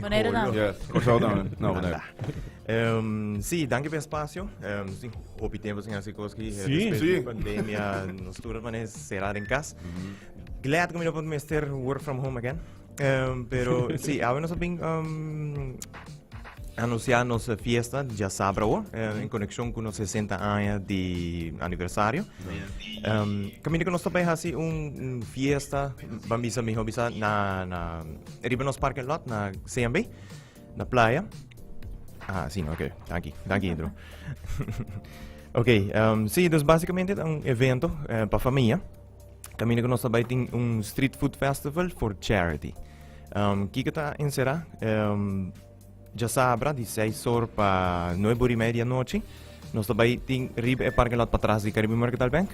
Bonaire tambe. Yes, Kòrsou tambe. No, Bonaire. Ehm, sí, danki pa e spasio. Ehm, nos tin hopi tempu sin hasi kos aki. Sí. Despues di pandemia, nos tur a manera será den kas. Glad ku mi no por mester work from home again. Ehm, pero sí, awe nos a bin ehm, anunciá nos fiesta diasabra awo, eh, en konekshon ku nos 60 aña di aniversario. Ehm, kaminda ku nos ta bai hasi un, un fiesta, ban bisa mi hopi sa na na Riba nos parking lot na CMB, na playa. Ah, sí, ok. Dank je, dank je, Indro. ok, um, sí, dus basicamente un evento uh, eh, para familia. Camino que nos trabaja en un street food festival for charity. Um, Kika está encerrada. Um, Djasabra di seis or pa nuebe or y media di anochi nos ta bay tin riba e parking lot patras di Caribe Mercantile Bank.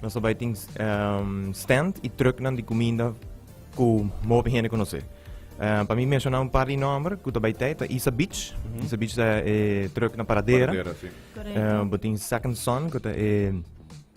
Nos ta bay tin ehm, stand y trucknan di cuminda cu mopi hende conoce. Eh, pa mi menciona un par di nomber cu ta bay tay ta Isa Beach. Isa Beach ta e trucknan paradera. Paradera, sí. Correcto. Eh, bo tin Second Son cu ta e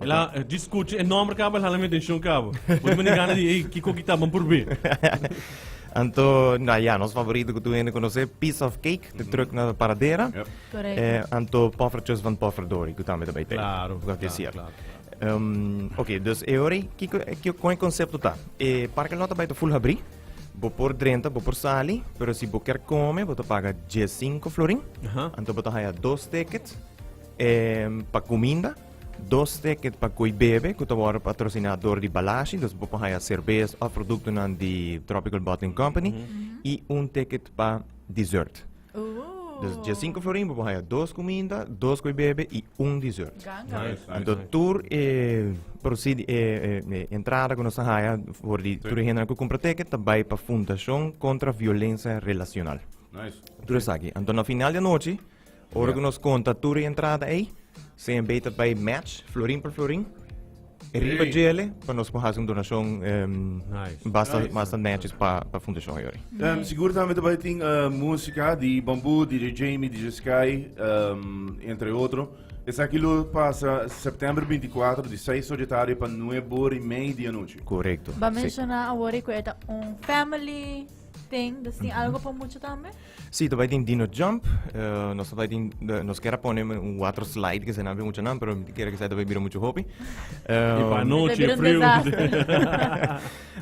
La, eh, di scucho, e nombre cabo, el hala mi atención cabo. Pues me gana di, hey, kiko kita, man probé. Anto, na ja, ons favorito ku tu hende konosé, Piece of Cake, te terug na Paradera. Yep. Correct. Eh, anto Poffertjes van Pofferdori, ku tambe daarbij te. Claro, Ku dat is claro, hier. claro, claro. Ehm, ok, dus e hori, kiko, kiko, kon e concepto ta? E parking lot bij te full habri, bo por drenta, bo por sali, pero si bo ker come, bo te paga 15 florin, Aha. anto bo te haya dos ticket, ehm, pa kuminda, Dos ticket pa koe bebe ku ta wòrdu patrosiná dor di Balashi, dus bo por haya serbes òf produktonan di Tropical Bottling Company, i un ticket pa dessert. Dus dia sinku florin bo por haya dos kuminda, dos koe bebe i un dessert. Ganga wei. Nice, Anto nice. tur e prosidi e e entrada ku nos ta haya for di tur e hendenan ku kumpra ticket ta bai pa Fundashon Kontra Violensia Relasional. Nice. Tur esaki. Anto na final di anochi Ora ku nos konta tur e entrada ei, CNB ta bai match florin per florin. Riba djele, pa nos por hasi un donashon basta basta netjes pa pa fundashon ei ori. Sigur tambe ta bai tin musika di Bamboo, DJ Jamie, DJ Sky, entre otro. Esaki lo pasa September binti i kuater di seis ora di tardi pa nueb ora i mei di anochi. Korekto. Ba menshoná awor ei ku e ta un family ting, dus tin algu pa mucha tambe? Si, ta bai tin Dino Jump, nos ta bai tin, nos kier a pone un water slide, ke eseinan bai mucha nan, pero miti kier ku esei ta bai bira muchu hopi. I pa anochi e friu.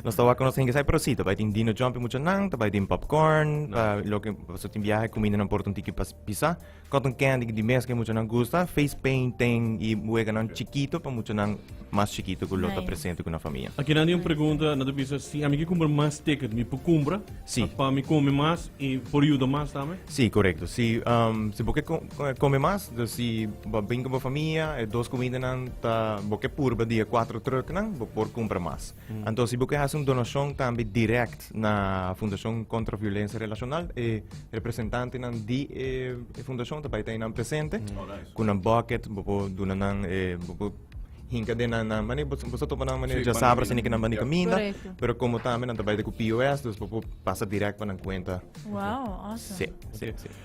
Nos ta wak ku nos hende esei, pero si, ta bai tin Dino Jump pi mucha nan, ta bai tin popcorn, pa loke, pasobra tin biahe kumindanan por ta un tiki pa pisa. Cotton candy di mes que mucho nan gusta, face painting y hueganan chiquito pa mucho nan mas chiquito que lo nice. presente con la familia. Aquí nadie un pregunta, nadie bisa si a mí que compra más ticket, mi puedo compra, sí. para mí come más y por ayuda más también. Sí, correcto. Si um, si boque come más, dus si bem com familia, e dos comida nan ta boque purba dia 4 truck nan, bo por compra más. Anto si bo ke hasi un donashon tambe direkt na Fundashon Kontra Violensia Relashonal, e representantenan di e fundashon ta bai ta einan presente ku nan bucket, bo por duna nan, bo por hinka den nan, mane bo ta topa nan mane dja sabra sini ke nan bandi kaminda, pero komo tambe nan ta bai ta ku pos, dus bo por pasa direkt pa nan kuenta. Wao, awesome. Sí, sí, sí.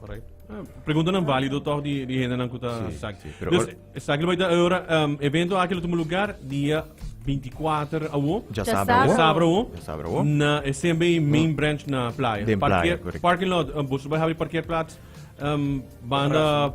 Correct. Ah, preguntanan válido toch di, di hendenan ku ta Sí, sak. sí, pero Dus, or- eh, sak lo ahora um, evento aqui lo toma lugar dia 24 awo. Ya Ya sabra sabra. wo. Sabra awo. Ya sabra wo. Na eh, SMB main branch na playa. Den playa, Parkeer- correct. Parking lot, um, bosu bij habri parkeerplaats. Um, banda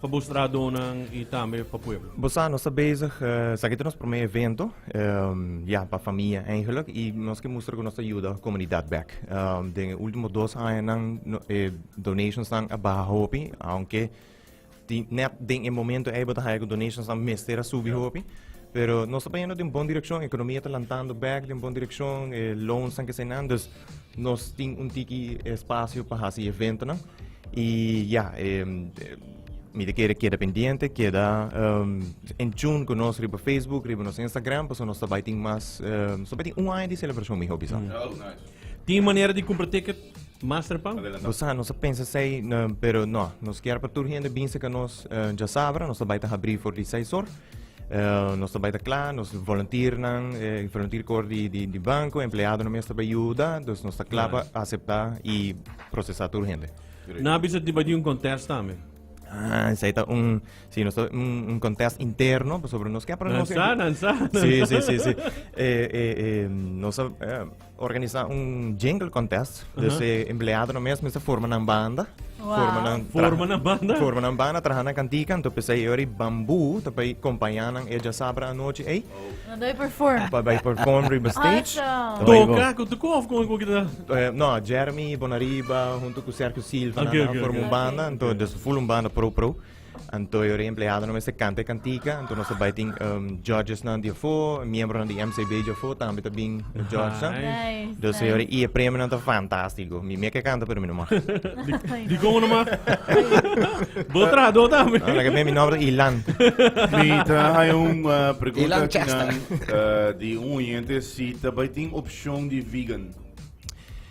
Pa bo stradonan y tambe pa pueblo. Bo sa, nos ta bezig, esaki ta nos prome evento, ya, pa famia eigenlik, y nos ke mustra ku nos ta yuda komunidat bek. Den e ultimo dos añanan e donationsnan a baha hopi, aunke tin, nèt den e momento ei bo ta haña ku donationsnan mester a subi hopi, pero nos ta bayendo den bon direkshon, ekonomia ta lantando bek den bon direkshon, e loansnan keseinan, dus. Nos tin un tiki espacio pa hasi eventonan y ya, mi te kere keda pendiente, keda um, en tune con nos riba Facebook, riba nos Instagram, paso nos tabai tin mas, um, so tin un año di celebracion mi hobby sa. Tin manera di compra ticket Masterpan? O sea, nos pensa sei, pero no, nos kier pa tur hende binse ka nos uh, ja sabra, nos tabai ta habri for di seisor. nos ta bai ta kla, nos volunteernan, eh, volunteer kor di, di, di banko, empleadonan mes ta bai yuda, dus nos ta kla pa aseptá i prosesá tur hende. Na bisa di bai di un contest tambe. Ah, esa ta un, sí, nos ta un, un contest interno, sobre nos ke, pero nos... Nansa, nansa, Sí, sí, sí, sí. Eh, eh, eh, nos, eh, Organisa un jingle contest. Dus e empleadonan mes mester forma nan banda. Forma nan Forma nan banda. Forma nan banda, traha nan cantica. Anto p'esei e ora di bamboo ta bay compaña nan e djasabra anochi ey. Pa bay perform. Pa bay perform riba stage. Awesome. Toca cu tucu of con cu kita? No, Jeremy Bonariba hunto cu Sergio Silva nan a forma un banda. Anto, dus full un banda pro pro. Anto e empleadonan mester canta e cantica. Anto nos bai tin um, judgesnan di afo, miembronan di MCB di afo, también ta bin judges. Nice, dus nice. señores, y e premionan ta fantástico. Mi me que canta, pero mi no mag. Di como nomás. Vos trajador también. Ah, la que me mi nombre Ilan. Mi ta hay un uh, pregunta que nan, uh, di un oyente si ta bai tin opción di vegan.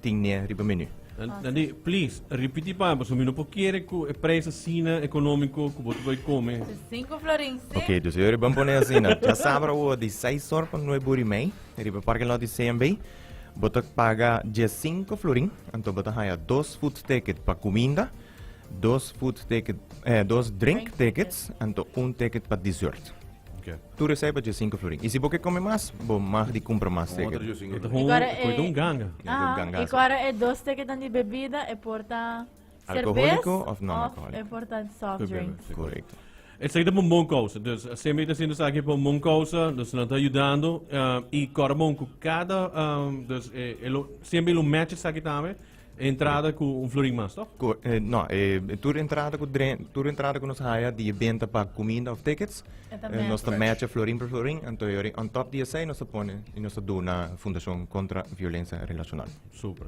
tin nie riba menu. Dandi, please, ripiti pa mi pasobra mi no por kere ku e preis asina ekonómiko ku bo ta bai kome. Di sinku florin, si. Oke, dus ora i bon pone asina. Dja sabra awo, di seis or pa nuebe ora i mei, riba parking lot di CMB, bo ta paga dies sinku florin. Anto bo ta haya dos food ticket pa kuminda, dos food ticket, eh, dos drink tickets, anto un ticket pa desert. Tur resèt pa dje sinku florin. I si bo ke kome mas, bo mag di kumpra mas teke. Otro dje sinku E ta florin. hon, e ta un ganga. Aha, Gangazo. i ku ara e dos tekenan di bebida e por ta serbes Alkohóliko of non-alkohóliko. e por ta soft Bebe, drinks. sí. Korekto. Esaki ta pa un bon kousa. Dus semper i ta haciendo esaki pa un bon kousa. Dus nan ta yudando. i kòrda bon ku kada, dus e lo semper i lo mèt esaki tambe. E entrada ku un florin mas tòg? Ku e no e tur entrada ku dren tur entrada ku nos haya di e benta pa kuminda òf tickets E ta e nos ta mètch. mètch florin per florin anto yori on top di esei nos ta pone i nos ta duna Fundashon Kontra Violensia Relashonal. Super.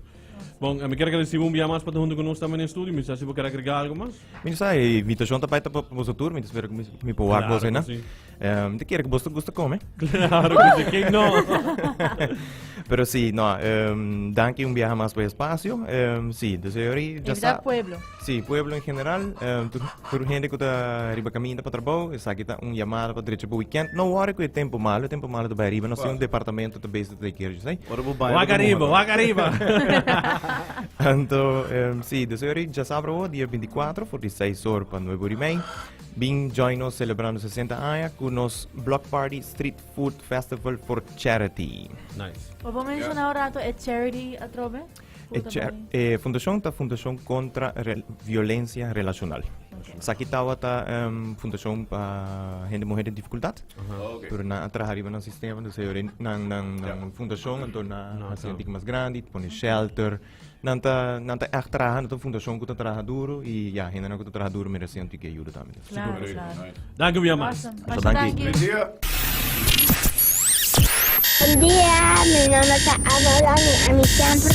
Bon, mi kier agradesé bo un bia mas pa ta huntu ku nos tambe na e studio. Mi sa si bo kier agregá algu mas. Mi no sa, e invitacion ta bai ta pa boso tur, mi ta spera cu mi por wak boso, na? Um, te quiere que boso gusta come? Claro que sí, que no? Pero sí, no, um, danki un viaje más por espacio, um, sí, dus ori, ya sa. pueblo. Sí, pueblo en general, um, tur, tur gente que ta arriba caminda para trabajo, esa que ta un llamada para derecho para weekend, no worry que tempo malo, tempo malo ta bai arriba, no sí un departamento ta de kerk sai. Ora bo baña. Wak arriba, wak arriba. Anto, um, sí, dus ori ya sabra o dia 24 for di 6 or pa 9 ori mei. Bin join nos celebrando 60 aña ku nos Block Party Street Food Festival for Charity. Nice. Obo menciona yeah. rato e charity atrobe? E, cer, e fundacion ta Fundacion Contra Re, Violencia Relacional. Okay. Saki tawa ta um, ehm, Fundacion pa uh, Hende Mujer de Dificultad. Uh -huh. okay. Pero na traha riba nan sistema, dus e ore nan, nan, nan yeah. fundacion, anto na no, hasi no. mas grandi, pone shelter. Nan ta, nan ta echt traha, nan ta fundacion ku ta traha duro, i ja, hende nan ku ta traha duro merece anto ke ajuda tambe. Claro, claro. Dank u weer, Max. Awesome. Dank u. Buen día, mi nombre es Avalon y a mí siempre